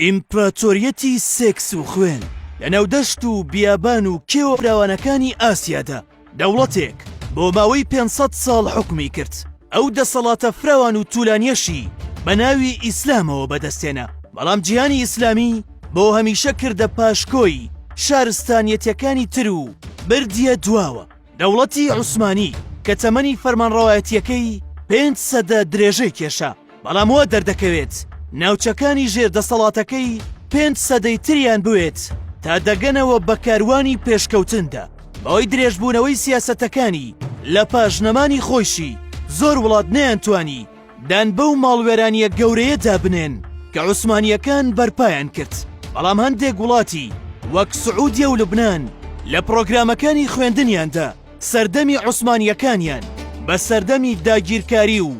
ئیمپراتۆریەتی سێکس و خوێن لە ناو دەشت و بیابان و کێوە فراوانەکانی ئاسیادا، دەوڵەتێک بۆ ماوەی پێنج سەد ساڵ حوکمی کرد، ئەو دەسەڵاتە فراوان و تولانیەشی بە ناوی ئیسلامەوە بەدەستهێنا، بەڵام جیهانی ئیسلامی بۆ هەمیشە کردە پاشکۆی شارستانیەتەکانی تر و بردیە دواوە، دەوڵەتی عوسمانی کە تەمەنی فەرمانڕەوایەتیەکەی پێنج سەدە درێژەی کێشا، بەڵام وا دەردەکەوێت ناوچەکانی ژێر دەسەڵاتەکەی پێنج سەدەی تریان بوێت تا دەگەنەوە بە کاروانی پێشکەوتندا بەوەی درێژبوونەوەی سیاسەتەکانی لە پاش نەمانی خۆیشی زۆر وڵات نەیانتوانی دان بەو ماڵوێرانیە گەورەیە دابنێن کە عوسمانیەکان بەرپایان کرد بەڵام هەندێک وڵاتی وەک سعودیە و لبنان لە پرۆگرامەکانی خوێندنیاندا سەردەمی عوسمانیەکانیان بە سەردەمی داگیرکاری و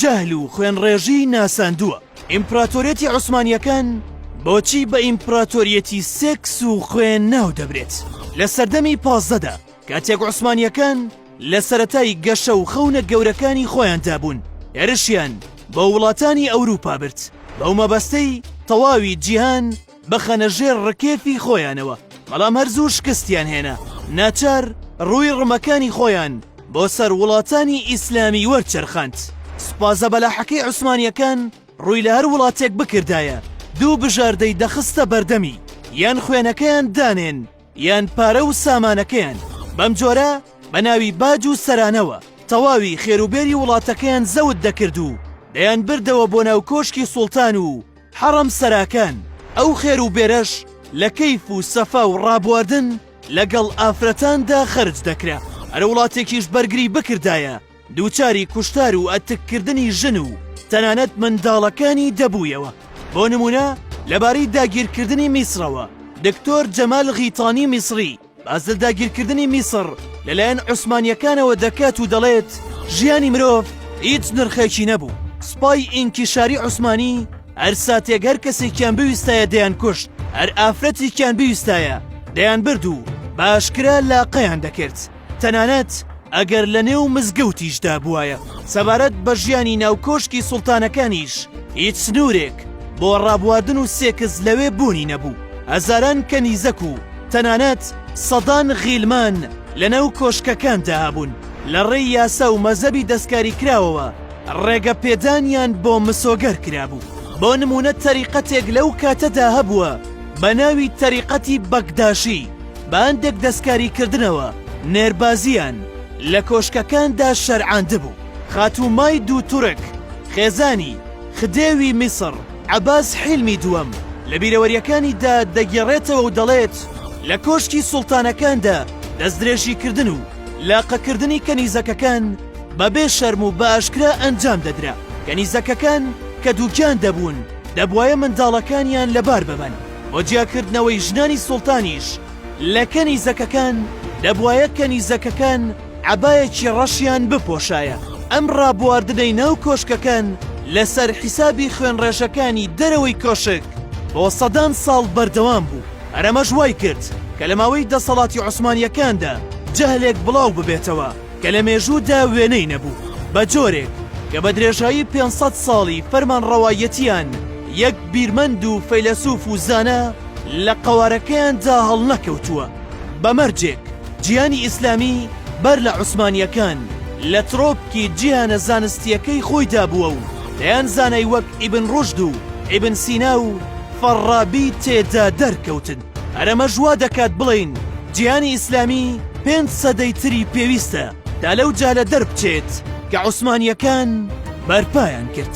جەهل و خوێنڕێژی ناساندووە. ئیمپراتۆریەتی عوسمانییەکان بۆچی بە ئیمپراتۆریەتی سێکس و خوێن ناو دەبرێت؟ لە سەردەمی پازدەدا کاتێک عوسمانییەکان لە سەرەتای گەشە و خەونە گەورەکانی خۆیاندا بوون، هێرشیان بۆ وڵاتانی ئەوروپا برد بەو مەبەستەی تەواوی جیهان، بخەنە ژێر ڕکێفی خۆیانەوە، بەڵام هەر زوو شکستیان هێنا، ناچار ڕووی ڕمەکانی خۆیان بۆ سەر وڵاتانی ئیسلامی وەرچەرخاند. سوپا زەبەلاحەکەی عوسمانییەکان ڕووی لە هەر وڵاتێک بکردایە، دوو بژاردەی دەخستە بەردەمی، یان خوێنەکەیان دانێن، یان پارە و سامانەکەیان. بەم جۆرە بە ناوی باج و سەرانەوە تەواوی خێروبێری وڵاتەکەیان زەوت دەکرد و دەیانبردەوە بۆ ناو کۆشکی سوڵتان و، حەڕەم سەراکان ئەو خێر و بێرەش لە کەیف و سەفا و ڕابواردن لە گەڵ ئافرەتان دا خەرج دەکرا، هەر وڵاتێکیش بەرگری بکردایە دووچاری کوشتار و ئەتک کردنی ژن و تەنانەت منداڵەکانی دەبوویەوە، بۆ نموونە لە بارەی داگیر کردنی میسڕەوە دکتۆر جەمال غیتانی میسڕی، بازل داگیرکردنی میسڕ لەلایەن عوسمانییەکانەوە دەکات و دەڵێت، ژیانی مرۆڤ هیچ نرخێکی نەبوو، سوپای ئینکیشاری عوسمانی هەر ساتێک هەر کەسێکیان بویستایە دەیانکوشت، هەر ئافرەتێکیان بویستایە دەیانبرد و بە ئاشکرا لاقەیان دەکرد، تەنانەت ئەگەر لەنێو مزگەوتیشدا بووایە. سەبارەت بە ژیانی ناو کۆشکی سوڵتانەکانیش هیچ سنوورێک بۆ ڕابواردن و سێکس لەوێ بوونی نەبوو، هەزاران کەنیزەک و، تەنانەت سەدان غیلمان لە ناو کۆشکەکاندا هەبوون، لە ڕێی یاسا و مەزەبی دەستکاریکراوەوە ڕێگە پێدانیان بۆ مسۆگەر کرابوو. بۆ نموونە تەریقەتێک لەو کاتەدا هەبووە بە ناوی تەریقەتی بەکداشی، بە هەندێک دەستکاریکردنەوە نێربازییان لە کۆشکەکاندا شەرعاندبوو. خاتوو مای دوو تورک، خێزانی، خدێوی میسڕ، عەباس حیلمی دووەم لە بیرەوەرییەکانی دا دەگێڕێتەوە و دەڵێت، لە کۆشکی سوڵتانەکاندا دەستدرێژیکردن و لاقەکردنی کەنیزەکەکان بە بێ شەرم و بە ئاشکرا ئەنجام دەدرا. کەنیزەکەکان کە دووگیان دەبوون، دەبوایە منداڵەکانیان لە بار ببەن. بۆ جیاکردنەوەی ژنانی سوڵتانیش لە کەنیزەکەکان، دەبوایە کەنیزەکەکان، عەبایەکی ڕەشیان بپۆشایە. ئەم ڕابواردنەی ناو کۆشکەکان لەسەر حیسابی خوێنڕێژەکانی دەرەوەی کۆشک بۆ سەدان ساڵ بەردەوام بوو، هەر ئەمەش وای کرد کە لە ماوەی دەسەڵاتی عوسمانییەکاندا جەهلێک بڵاو ببێتەوە کە لە مێژوودا وێنەی نەبوو، بە جۆرێک کە بە درێژایی پێنج سەد ساڵی فەرمانڕەوایەتییان یەک بیرمەند و فەیلەسوف و زانا لە قەوارەکەیاندا هەڵنەکەوتووە، بە مەرجێک. جیهانی ئیسلامی بەر لە عوسمانییەکان لە ترۆپکی جیهانە زانستییەکەی خۆیدا بووە و دەیان زانای وەک ئیبن ڕوشد و ئیبن سینا و فەڕابی تێدا دەرکەوتن. هەر ئەمەش وا دەکات بڵێین جیهانی ئیسلامی پێنج سەدەی تری پێویستە تا لەو جالە دەربچێت کە عوسمانییەکان بەرپایان کرد.